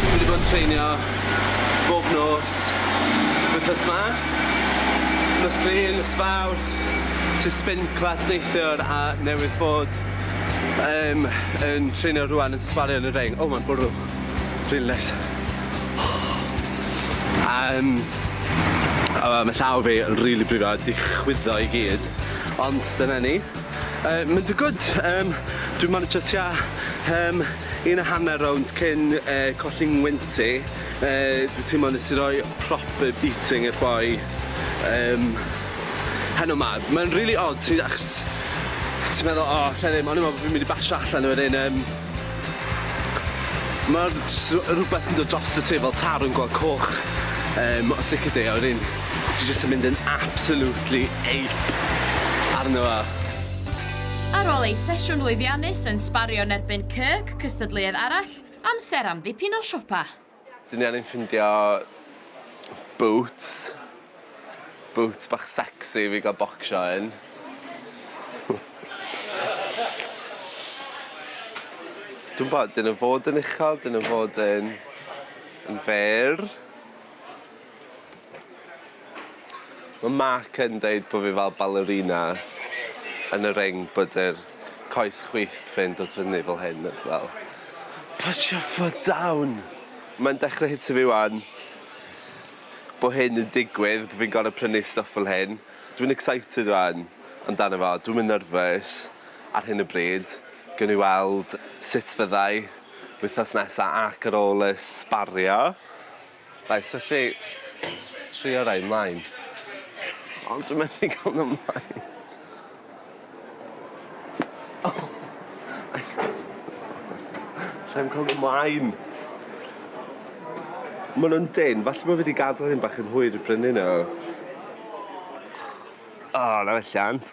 Dwi 'di bod yn treinio bob nos wythnos 'ma. Nos Lun, nos Fawrth, sy spin class neithiwr a newydd bod yym yn treinio rŵan yn sgwario yn y reng. O ma'n bwrw. Rili neis. A yym a ma' llaw fi yn rili brifo a 'di chwyddo i gyd. Ond dyna ni. Uh, mynd yn gwyd, um, dwi'n managio tua um, un a hanner rownd cyn uh, colli ngwynt i. Uh, dwi'n teimlo nes i roi proper beating i'r boi um, heno ma. Mae'n really odd, ti'n achos ti'n meddwl, o, oh, lle ddim, ond i'n meddwl bod fi'n mynd i basio allan o'r un um, Ma' rhywbeth yn dod drosto ti fel taro yn gweld coch yym o sicir de a wedyn ti jyst yn mynd yn absolutely ape arno fo. Ar ôl ei sesiwn lwyddiannus yn sbario yn erbyn Kirk, cystadleuodd arall, amser am ddipyn o siopa. Dyn ni angen ffindio boots. Boots bach sexy i fi ga'l bocsio yn. Dw'm bod, dyn nw fod yn uchel dyn nw fod yn yn fer. Mae Mark yn deud bod fi fel ballerina yn y ring bod yr coes chwith fe'n dod fyny fel hyn a dwi fel put your foot down! Mae'n dechrau hitio fi 'wan bod hyn yn digwydd, bod fi'n gorfod prynu stwff fel hyn. Dwi'n excited 'wan amdano fo, dwi'm yn nervous ar hyn o bryd. Gewn ni weld sut fyddai wythnos nesa ac ar ôl y sbario. Reit, felly, trio rhoi ymlaen. Ond dwi methu cael nhw ymlaen. Oh! Allai'm cael nhw ymlaen. Maen nhw'n dyn, falle bod fi wedi gadael hyn bach yn hwyr i brynu nhw. O, na welliant.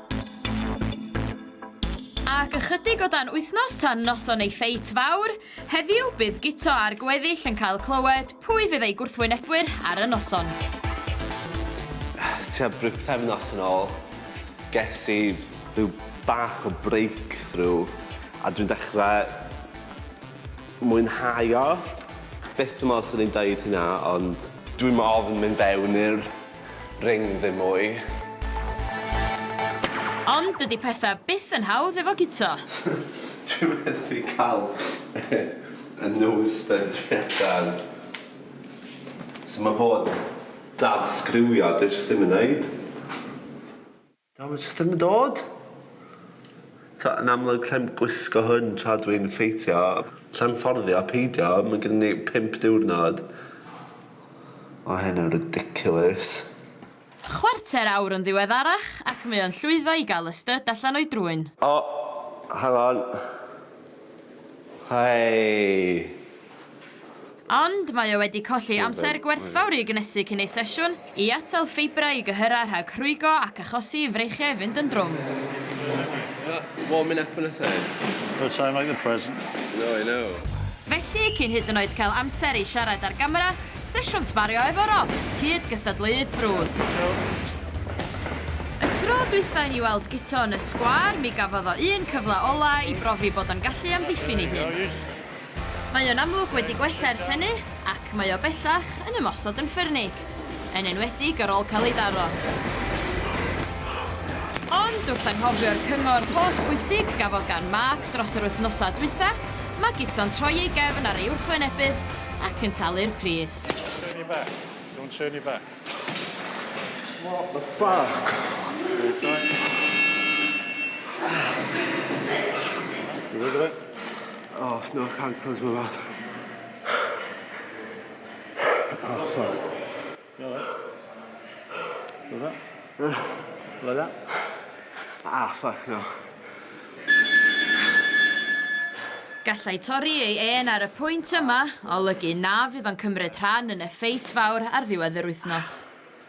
Ac ychydig o dan wythnos tan noson ei ffeit fawr, heddiw bydd Guto a'r gweddill yn cael clywed pwy fydd eu gwrthwynebwyr ar y noson. Tua pythefnos yn ôl, ges i rhyw bach o breakthrough a dwi'n dechrau mwynhau o. Byth yn meddwl 'swn i'n deud hynna ond dwi'n ofn mynd fewn i'r ring ddim mwy. Ond dydy petha byth yn hawdd efo guto. Dwi methu cal y nose stud dwi ar gael. So ma fod dad sgriwio dwi jyst ddim yn neud. Does dim yn dod. Tibod, yn amlwg clem gwisgo hwn tra dw i'n ffeithio. Clem fforddio, peidio, mae gyda ni pump diwrnod. Mae hyn yn ridiculous. Chwarter awr yn ddiweddarach ac mae o'n llwyddo i gael y styd allan o'i drwyn. O, hang on. Hei! Ond mae o wedi colli amser gwerthfawr i gnesu cyn ei sesiwn, i atal ffeibrau i gyhyrau rhag rhwygo ac achosi i freichiau fynd yn drwm. Felly, cyn hyd yn oed cael amser i siarad â'r gamera, sesiwn sbario efo Rob, cyd-gystadleuydd brwd. Y tro dwytha i ni weld Guto yn y sgwâr, mi gafodd o un cyfle ola i brofi bod o'n gallu amddiffyn ei hun. Mae o'n amlwg wedi gwella ers hynny ac mae o bellach yn ymosod yn ffyrnig, yn enwedig ar ôl cael ei daro. Ond wrth anghofio'r cyngor holl bwysig gafodd gan Mark dros yr wythnosau dwytha, mae Gito'n troi ei gefn ar ei wrthwynebydd ac yn talu'r pris. Don't turn your back. Don't turn your back. What the fuck? You with it? Oh, it's not hard close my mouth. Oh, fuck. You alright? Like that? Uh, like that? Ah, fuck, no. Gallai torri ei en ar y pwynt yma olygu na fydd o'n cymryd rhan yn y ffeit fawr ar ddiwedd yr wythnos.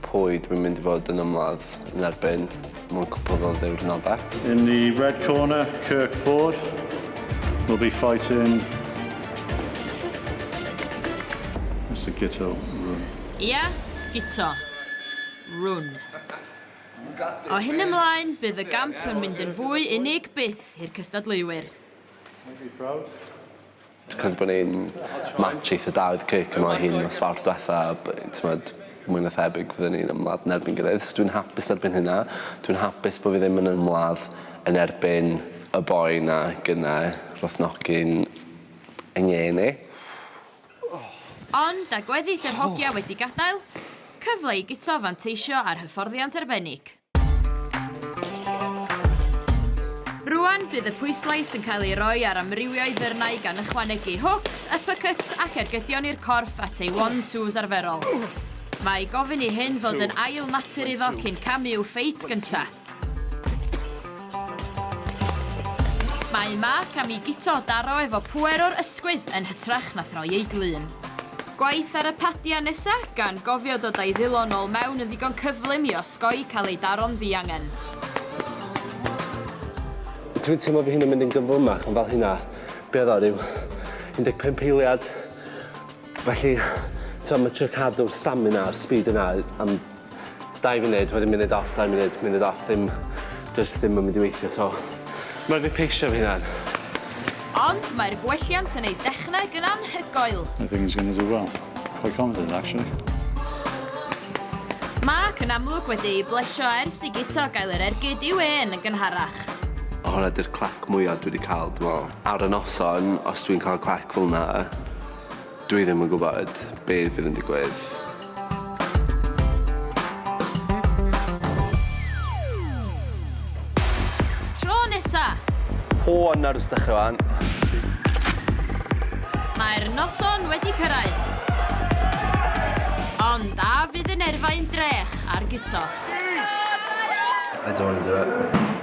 Pwy dwi'n mynd i fod yn ymladd yn erbyn mewn cwpl o ddiwrnodau? In the red corner, Kirk Ford will be fighting Mister Guto Rhun. Ia, Guto. Rhun. O hyn ymlaen, bydd y gamp yn mynd yn fwy unig byth i'r cystadleuwyr. Aren't we proud? Dwi'n credu bod ni'n match eitha da oedd Kirk yma o hyd nos Fawrth dwetha a b- t'mod mwy na thebyg fydden ni'n ymladd yn erbyn gilydd so dwi'n hapus erbyn hynna. Dwi'n hapus bo' fi ddim yn ymladd yn erbyn y boi 'na gyne rothnogi'n yng ngê ni. Ond â gweddill yr hogia wedi gadael, cyfle i guto a fanteisio ar hyfforddiant arbennig. Rwan, bydd y pwyslais yn cael ei roi ar amrywio i ddyrnau gan ychwanegu hooks, uppercuts ac ergydion i'r corff at ei one-twos arferol. Mae gofyn i hyn fod yn ail natur iddo cyn camu i'w ffeit gyntaf. Mae Mark am i Guto daro efo pŵer o'r ysgwydd yn hytrach na throi ei glun. Gwaith ar y padia nesa, gan gofio dod a'i ddilon nol mewn yn ddigon cyflym i osgoi cael ei daro'n ddiangen. Dwi'n teimlo fy hun yn mynd yn gyflymach yn fel hynna. Be oedd o, ryw 15 eiliad? Felly, t'o' ma' trio cadw'r stamina a'r speed yna am dau funud, wedyn munud off, dau munud, munud off ddim jyst ddim yn mynd i weithio so ma' raid fi peisio fy hunan. Ond mae'r gwelliant yn eu dechneg yn anhygoel. I think he's going to do well. Quite confident actually. Mark yn amlwg wedi ei blesio ers i Guto gael yr ergyd i'w hen yn gynharach. Honna 'di'r clac mwya dwi 'di ca'l dwi me'wl. Ar y noson os dwi'n ca'l clac felna Dwi ddim yn gwybod beth fydd yn digwydd. O, a nawr wrth dechrau fan. Mae'r noson wedi cyrraedd. Ond a fydd yn erfau'n drech ar guto? I don't want to do it.